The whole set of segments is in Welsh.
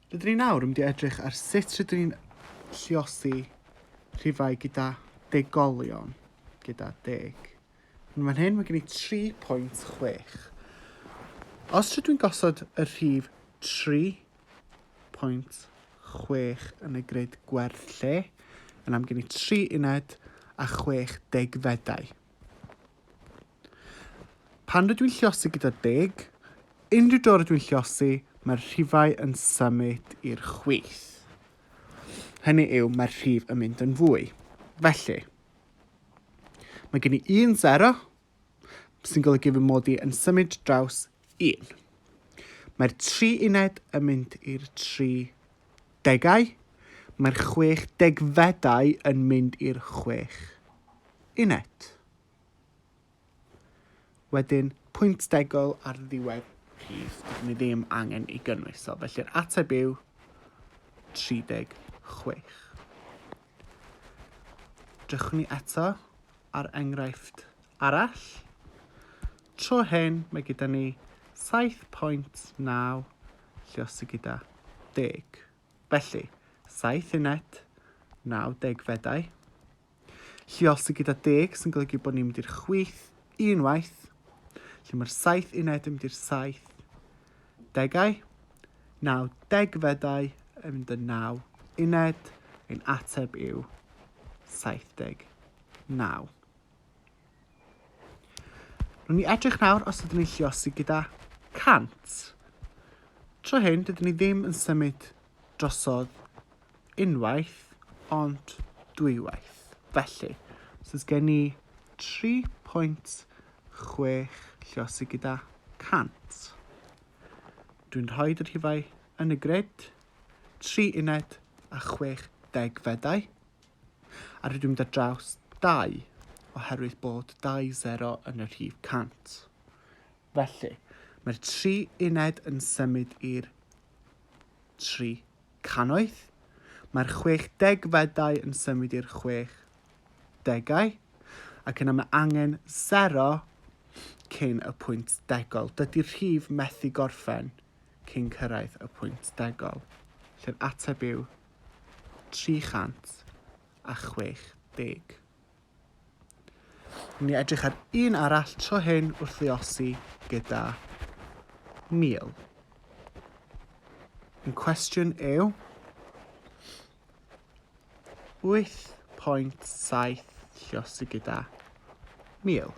Rydyn ni nawr yn mynd i edrych ar sut rydyn ni'n lliosi rhifau gyda degolion, gyda deg. Yn fan hyn, mae gen i 3.6. Os rydw i'n gosod y rhif 3.6 yn y grid gwerth lle, yna mae gen i 3 uned a 60 fedau. Pan rydw i'n llosgi gyda deg, unrhyw dro rydw i'n llosgi, mae'r rhifau yn symud i'r chwith. Hynny yw, mae'r rhif yn mynd yn fwy. Felly, mae gen i un sero, sy'n golygu fy mod i yn symud draws un. Mae'r tri uned yn mynd i'r tri degau, mae'r chwech degfedau yn mynd i'r chwech uned. Wedyn, pwynt degol ar ddiwedd rhif, ni ddim angen ei gynnwys. So, felly'r ateb yw 36. Drychwn ni eto ar enghraifft arall. Tro hyn, mae gyda ni 7.9 lle os y gyda 10. Felly, 7 uned, 9 degfedau. Lleol sydd gyda deg sy'n golygu bod ni'n mynd i'r chwith unwaith, lle mae'r saith uned yn mynd i'r saith degau, naw degfedau yn mynd yn naw uned, ein ateb yw 79. Rwy'n ni edrych nawr os ydyn ni'n lliosi gyda 100. Tro hyn, dydyn ni ddim yn symud drosodd unwaith, ond dwywaith. Felly, os oes gen i 3.6 lliosi gyda 100. Dwi'n rhoi yr hifau yn y grid, 3 uned a 60 fedau. A rydw i'n mynd ar draws 2 oherwydd bod 2-0 yn y rhif 100. Felly, mae'r tri uned yn symud i'r tri cannoedd. Mae'r 60 fedau yn symud i'r 60 degau ac yna mae angen 0 cyn y pwynt degol. Dydy'r rhif methu gorffen cyn cyrraedd y pwynt degol, lle'r ateb yw 360. Ni edrych ar un arall tro hyn wrth ddiosi gyda Neil. Yn cwestiwn yw 8.7 llosi gyda Neil.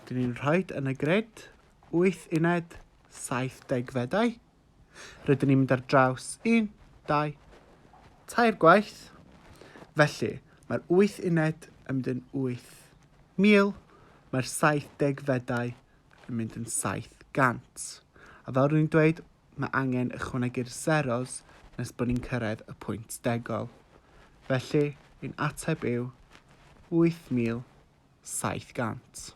Dyn ni'n rhaid yn y gred 8 uned 70 fedau. Rydyn ni'n mynd ar draws un, dau, tair gwaith. Felly, mae'r wyth uned yn mynd yn 8,000, mae'r 70 fedau yn mynd yn 700. A fel rwy'n dweud, mae angen ychwanegu'r zeros nes bod ni'n cyrraedd y pwynt degol. Felly, ein ateb yw 8,700.